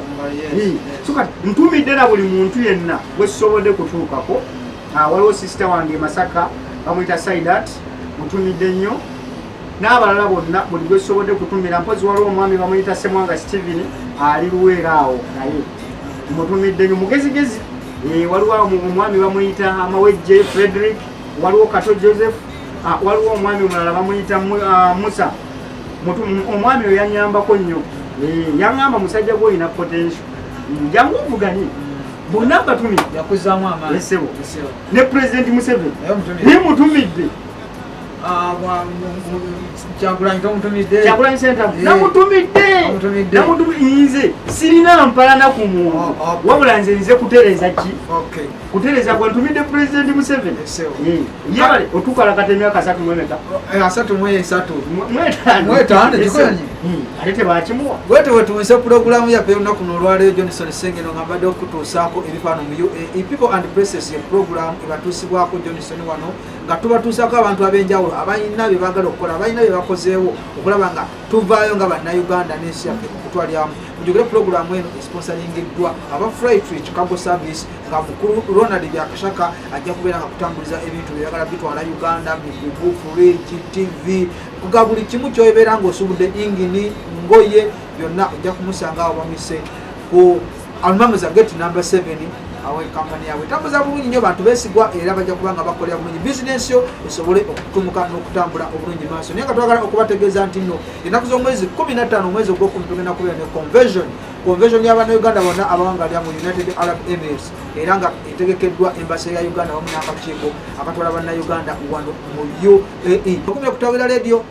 S2: so kati ntumidde na buli muntu yenna gwe sisobodde kutuukako ah, waliwo sisita wange Masaka bamuyita Saidat mutumidde nnyo n'abalala bonna buli gwe sisobodde kutumira mpozi waliwo omwami bamuyita Semwanga Steven ali luweera awo naye mutumidde nnyo mugezigezi eh, waliwo omwami bamuyita Amawejje Frederick waliwo kato joseph ah, waliwo omwami omulala bamuyita ah, musa omwami oyo yanyambako nnyo eh, yaŋamba musajja gwe olina potensio njangu ovuganye bonna batumiddeesebo
S1: ne
S2: pulezidenti museveni naye mutumidde ah, kyagulanyi sentamu eh. namutumiddeenamutumiinze sirina mpalana ku muntu oh, oh. wabula nze nze kutereeza ki kutereza gwe ntumidde pulezidenti museveni yebale otukalakata emyaka asatu mwemeka eh, asatu mwesatu mwetaano gikonyi hmm. ate tebakimuwa wete wetuwise
S1: pulogulamu yaffe olunaku nolwaleero johnson sengeno nga mbadde okutuusaako ebifaano mu uae people and places ye pulogulamu ebatuusibwako johnson wano nga tubatuusaako abantu ab'enjawulo abalina bye baagala okukola abalina bye bakozeewo okulaba nga tuvaayo nga bannayuganda n'ensi yaffe okutwalyamu mujogere pulogulaamu eno esponsalingiddwa aba fritri chicago service nga mukulu ronald byakashaka ajja kubeera nga kutambuliza ebintu byeyagala bitwala uganda migugu fridge tv kuga buli kimu kyobeera ngaosubudde ingini ngoye byonna ojja kumusanga awo bamise ku Almamuza gate number 7 awe kampani yaabwe tambuza bulungi nnyo bantu besigwa era bajja kuba nga bakolera bulungi bizinensi yo esobole okutumuka n'okutambula obulungi maaso naye nga twagala okubategeeza nti nno ennaku z'omwezi 15 omwezi ogwokumi tugenda kubeera ne conversion convention y'abana uganda bonna abawanga lya mu united arab emirates era nga etegekeddwa embasa ya uganda wamu n'akakiiko akatwala banna uganda wano mu uae okumya okutawira leediyo